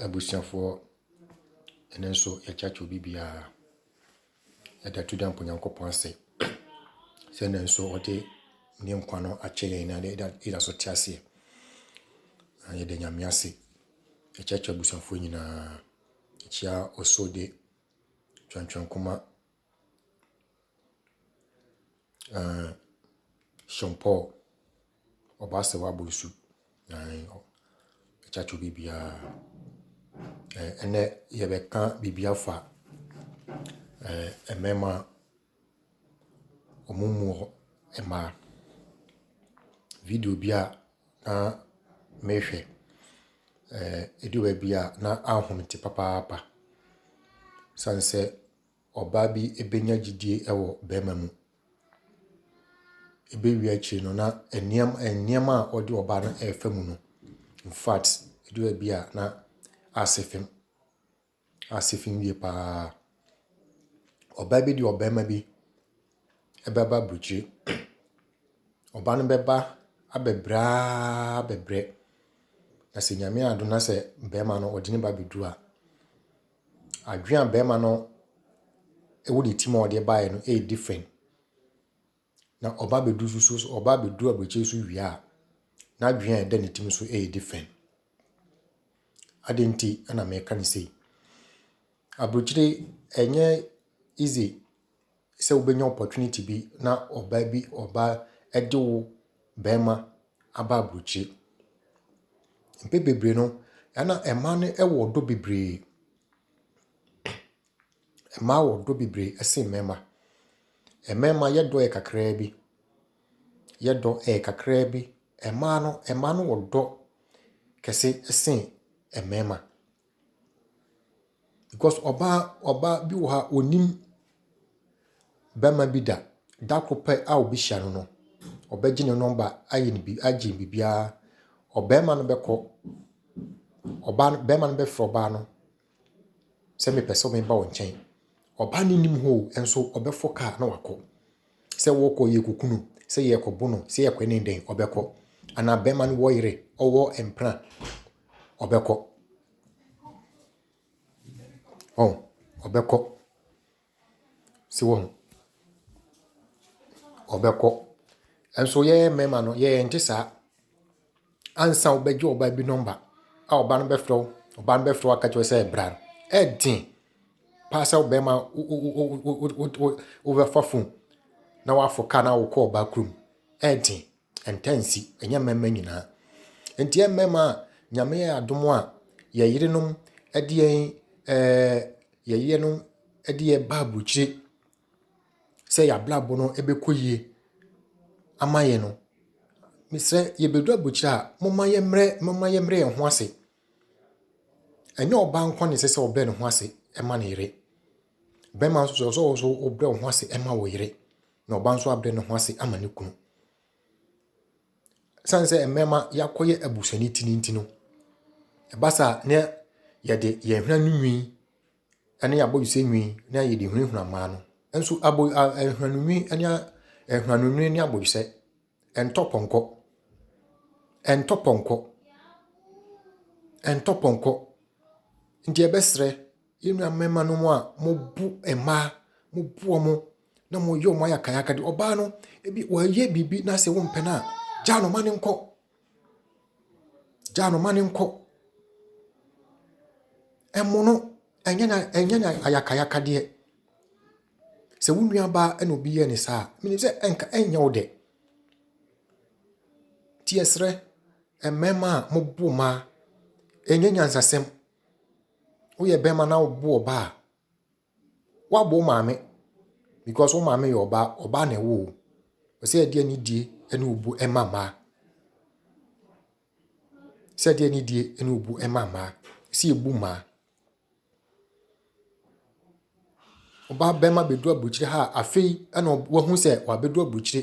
Abusuafoɔ ɛno nso yɛkyakye obi biara yɛde ato dwa mpo Nyankopɔn ase sɛ ɛno nso ɔde ne nkwa no akyɛ yɛn na yɛda so te aseɛ na yɛda Nyame ase yɛkyakye abusuafoɔ nyinaa yɛkyia ɔsɔ de twɛntwɛn nkoma Ɛɛ Sean Paul, ɔba sɛ wabɔ asu. Ɛɛ ɛkyɛ to biribiara. Ɛɛ ɛnɛ yɛbɛka biribi afa ɛɛ mmarima a wɔmmu mmaa. Video bi a na mehwɛ, ɛɛ ɛdu baabi a na anhome te papaapa. Ɛsiane sɛ . ɔbaa bi bɛnya gyedie wɔ barima mu. Ɛbɛwie akyire no, na nneɛm nneɛma a ɔde ɔbaa no refa mu no, infact, ɛduru baabi a, na asɛ fam. Asɛ fam yie pa ara. Ɔbaa bi de ɔbarima bi bɛba aburokyire. Ɔbaa no bɛba abɛbrɛ araa abɛbrɛ, na sɛ nyame yɛ adom na sɛ barima no ɔde ne ba bɛduru a. Adwene a barima no wɔ ne tirim a ɔde baeɛ no yɛ different. Na ɔba abɛduru nso so nso ɔba abɛduru aburokyire so wie a, n'adwene a ɛda ne tirim nso yɛ different. Adɛn nti na meka no sei? Aburokyire ɛnyɛ easy. sɛ wobɛnya opportunity bi na ɔbaa bi ɔbaa de wo barima aba aburokyire. Mpɛn bebree no, ɛna mmaa no wɔ ɔdɔ bebree. Mmaa wɔ ɔdɔ bebree sen mmarima. Mmarima yɛ dɔ yɛ kakraa bi, yɛ dɔ yɛ kakraa bi. Mmaa no mmaa no wɔ dɔ kɛse sen mmarima. Because ɔbaa ɔbaa bi wɔ ha a ɔnnim barima bi da. Da koro pɛ a ɔbɛhyia no no, ɔbɛgye ne nɔma ayɛ no bi agye no biribiara. Ɔbarima no bɛkɔ, ɔbaa no barima no bɛfrɛ ɔbaa no sɛ mepɛ sɛ meba wo nkyɛn. Ɔbaa no nnim hɔ o, nanso ɔbɛforo kaa na wakɔ. Sɛ wɔkɔ yɛkɔku no, sɛ yɛkɔbo no, sɛ yɛkɔ ne dɛn ɔbɛkɔ. Anaa bɛma no wɔ yere, ɔwɔ mpena ɔbɛkɔ. Ɔn, ɔbɛkɔ. Sɛ wɔn, ɔbɛkɔ. Nso yɛyɛ mɛma no, yɛyɛ nte saa. Ansa wobɛgye ɔbaa bi nɔmba a ɔbaa no bɛfrɛ wo, ɔbaa no bɛfrɛ wo aka kyerɛ wo sɛ bra no, ɛden paa sɛ wo bɛrima wobɛfa fon na woaforo kaa na wokɔ ɔbaa kurom. Ɛden, ɛntɛ nsi, ɛnyɛ mmarima nyinaa. Nti yɛ mmarima a Nyame yɛ yɛn adom a, yɛ yerenom de yɛn ɛɛɛ yɛ yerenom de yɛn ba aburukyire. sɛ y'abrabɔ no ɛbɛkɔ yie ama yɛn no, mesrɛ yɛbɛduru abɔkyire a, momma yɛmmrɛ momma yɛmmrɛ yɛn ho ase. Ɛnyɛ ɔbaa nko ara na ɛsɛ sɛ ɔbrɛ ne ho ase ma ne yere. Bɛrima nso ɛsɛ sɛ wo nso wobrɛ wo ho ase ma wo yere, na ɔbaa nso abrɛ ne ho ase ama ne kunu. Ɛsiane sɛ mmarima yɛakɔyɛ abusuanitini nti no, ɛba saa a na yɛde yɛn hweneanonwi ne abɔdwesɛ nwi ne a yɛde hunahuna mmaa no. Nso abɔ a nhwehwɛnu nwi ne a nhwehwɛnu nwi ne abɔdwesɛ ɛntɔ pɔnkɔ. Ɛntɔ pɔnkɔ. Ɛntɔ pɔnkɔ. Nti yɛbɛsrɛ yɛn nua mmarimanom a wɔbu mmaa, wɔbu wɔn na wɔyɛ wɔn ayakayaka de, ɔbaa no, ebi wayɛ biribi na sɛ wompɛ no a, gyaa no ma no nkɔ. Gyaa no ma no nkɔ. Ɛmo no, ɛnyɛ na ɛnyɛ na ayakayakadeɛ. Sɛ wo nuabaa ɛna obi yɛ ne saa, menim sɛ ɛnka ɛnyɛ wo dɛ. Ti ɛsrɛ mmarima a mo bo mmaa, ɛnyɛ nyansasɛm. Woyɛ barima na wobo ɔbaa. Woabɔ wo maame because wo maame yɛ ɔbaa, ɔbaa na ɛwɔ o. Ɔsɛ ɛdeɛ ne die ɛne obu ɛma mmaa. Sɛ ɛdeɛ ne die ɛne obu ɛma mmaa. Ɛsɛ yɛbu mmaa. Ɔbaa bɛma bɛduru aburokyire ha a afei ɛna wahu sɛ wabɛduru aburokyire.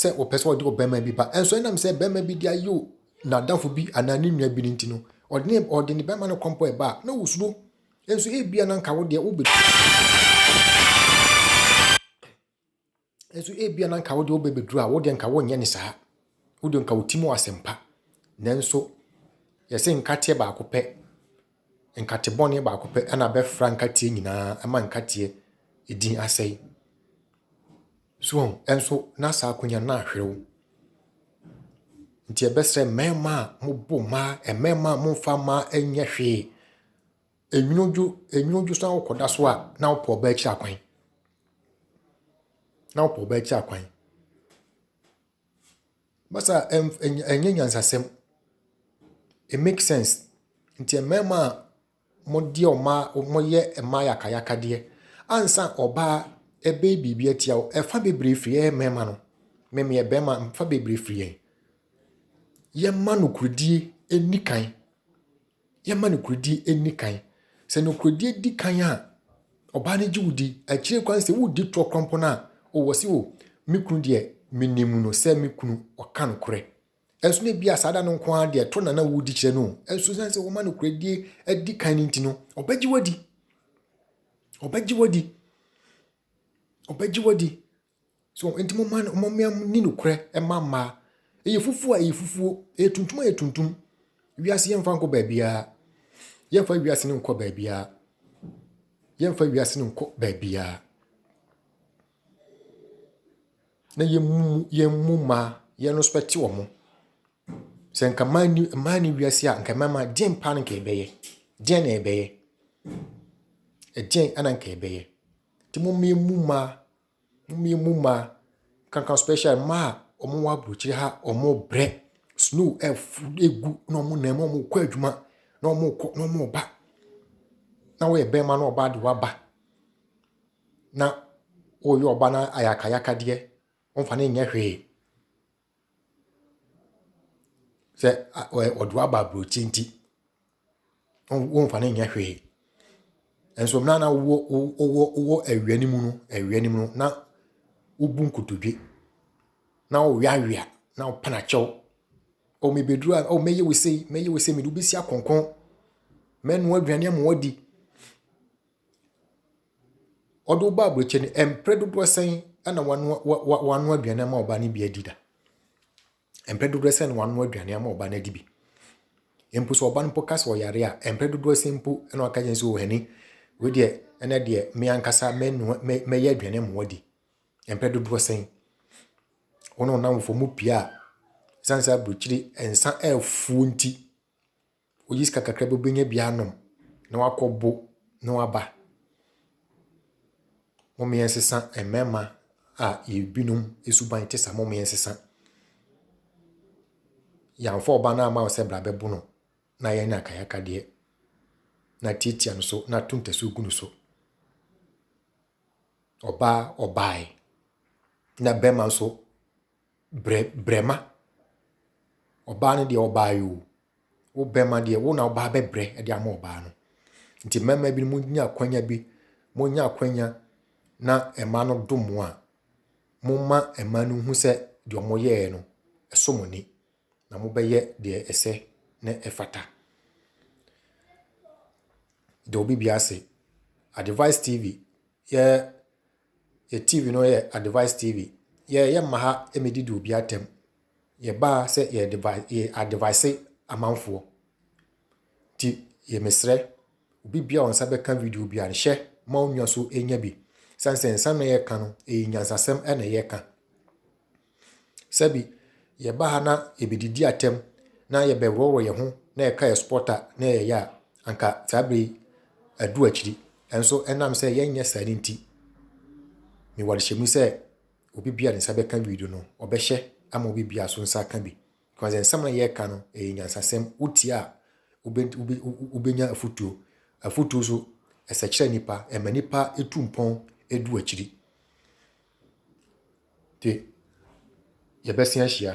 sɛ ɔpɛ sɛ ɔde ɔbarima bi ba, nanso ɛnam sɛ barima bi de ayew n'adamfo bi anaa ne nua bi no nti no, ɔde ne ɔde ne barima no kɔ mpo a ɛba a, na wosuro. Nso ebia na nka wo deɛ wobɛ nso ebia na nka wo deɛ wobɛbɛduru a, wo deɛ nka wonyɛ ne saa. Wo deɛ nka wo ti mu asɛmpa. Nanso yɛsɛ nkateɛ baako pɛ, nkate bɔne baako pɛ ɛna bɛfra nkateɛ nyinaa ɛma nkateɛ edin asɛe. So wahu? Nso na saa akonya no ahwerew. Nti ɛbɛsrɛ mmarima a mobo mmaa, mmarima a momfa mmaa nyɛ hwee. Enwunudwo, enwunudwo so na wokɔda so a na wopɛ ɔbaa akyiri akwan. Na wopɛ ɔbaa akyiri akwan. Basa ɛnyɛ nyansasɛm. It makes sense. Nti mmarima a Modeɛ ɔmaa moyɛ mmaa yakayakadeɛ ansa ɔbaa ɛbɛyɛ biribi atia wo ɛfa bebree firi yɛyɛ mmarima no me meyɛ barima ɛfa bebree firi yɛn yɛma nokorɛdie ɛnni kan yɛma nokorɛdie ɛnni kan sɛ nokorɛdie di kan a ɔbaa no gye wo di akyire koraa no sɛ wodi toɔ koraa mpo no a o wɔse o me kunu deɛ menim no sɛ me kunu ɔka nokorɛ. Nanso na ebia saa da no nko ara deɛ to na na wodi kyerɛ no. Nanso esiane sɛ wɔma nokorɛdie adi kan no nti no, ɔbɛgye wadi. Ɔbɛgye wadi. Ɔbɛgye wadi. So nti mo mma mo mmea ni nokorɛ mma mmaa. Ɛyɛ fufuo a ɛyɛ fufuo, ɛyɛ tuntum a ɛyɛ tuntum. Wiase yɛmfa nkɔ baabiara. Yɛmfa wiase no nkɔ baabiara. Yɛmfa wiase no nkɔ baabiara. na yɛmmu yɛmmu mmaa, yɛrespɛte wɔn. Sɛ nka mmaa nni mmaa nni wiase a, nka mmarima deɛn paa na nka yɛbɛyɛ? Deɛn na yɛbɛyɛ? Ɛdeɛn na nka yɛbɛyɛ? Nti momma yɛmmu mmaa, momma yɛmmu mmaa, nkanka special mmaa a wɔwɔ aburokyire ha a wɔrebrɛ, snow afu agu na wɔnam mu na wɔrekɔ adwuma na wɔrekɔ na wɔreba, na woyɛ barima na ɔbaa de woaba. na woreyɛ ɔba no ayakayakadeɛ, womfa no nyɛ hwee. Sɛ ɔde wo aba aburokyi nti, womfa no nyɛ hwee. Nanso mmerɛ a na wowɔ wowɔ wowɔ awia no mu no, awia no mu no, na wobu nkotodwe, na woweawea, na wopɛ no akyɛw. O mebɛduru ha, o mɛyɛ wo sei, mɛyɛ wo sei, mede wo bɛsi akɔnkɔn, mɛnoa aduane ama woadi. Ɔde wo ba aburokyire no, mpere dodoɔ sɛn na wanoa wa wa wanoa aduane ama wo ba no bi adi da? Mpere dodoɔ sɛn na wanoa aduane ama wo ba no adi bi? Mpo sɛ ɔba no mpo ka sɛ ɔyare a, mpere dodoɔ sɛn mpo na waka kyerɛ no sɛ o honey, wei deɛ ɛnɛ deɛ me ankasa mɛnoa mɛ mɛyɛ aduane ama wo adi? Mpere dodoɔ sɛn? Wo ne wo nnamfofoɔ mopue a, ɛsiane sɛ aburokyire nsa afuo nti, Oyi sika kakra bi obenya bi anom na wakɔ bo na waba. Mom yɛn sesa mmarima a yɛbinom esuban te sa mom yɛn sesa. Yɛamfa ɔba no ama wo sɛ bra bɛbo no na yɛn na kayaka deɛ na tiatia no so na to ntasuo gu no so. Ɔbaa ɔbaae na bɛrima nso Brɛ brɛma. Ɔbaa no deɛ ɔbaa yɛ o. Wo bɛma deɛ wo na wo baa bɛbrɛ de ama ɔbaa no. Nti mmarima bi mo nya akwanya bi, mo nya akwanya na mma no dom mo a, mo ma mma no hu sɛ deɛ wɔn yɛɛ no ɛso mo ni na mo bɛyɛ deɛ ɛsɛ na ɛfata. Deɛ obi bi ase, Advice TV yɛ Yɛ TV no yɛ advice TV. Yɛ yɛ mma ha ɛmɛdi di obi atɛm. Yɛ baa sɛ yɛ advice yɛ advice amanfoɔ. Ti yɛ mesrɛ obi bia ɔnsa bɛka video bia no hyɛ ma onua so enya bi. San sɛ nsa na yɛ ka no ɛyɛ nyansasɛm ɛna yɛ ka. Sɛbi, yɛba ha na yɛbɛdidi atɛm na yɛbɛworɔworɔ yɛn ho na yɛka yɛn supɔta na yɛyɛ a, anka saa berɛ yi adu akyiri. Nanso ɛnam sɛ yɛnyɛ saa no nti, mewɔ adehyɛmu sɛ obi biara ne nsa bɛka video no, ɔbɛhyɛ ama obi biara so nsa aka bi. Because nsɛm a yɛreka no, ɛyɛ nyansasɛm. Wotie a, wobɛnya afutuo. Afutuo so, ɛsɛkyerɛ nipa, ɛma nipa tu mpɔn du akyiri. de yɛbɛsen ahyia.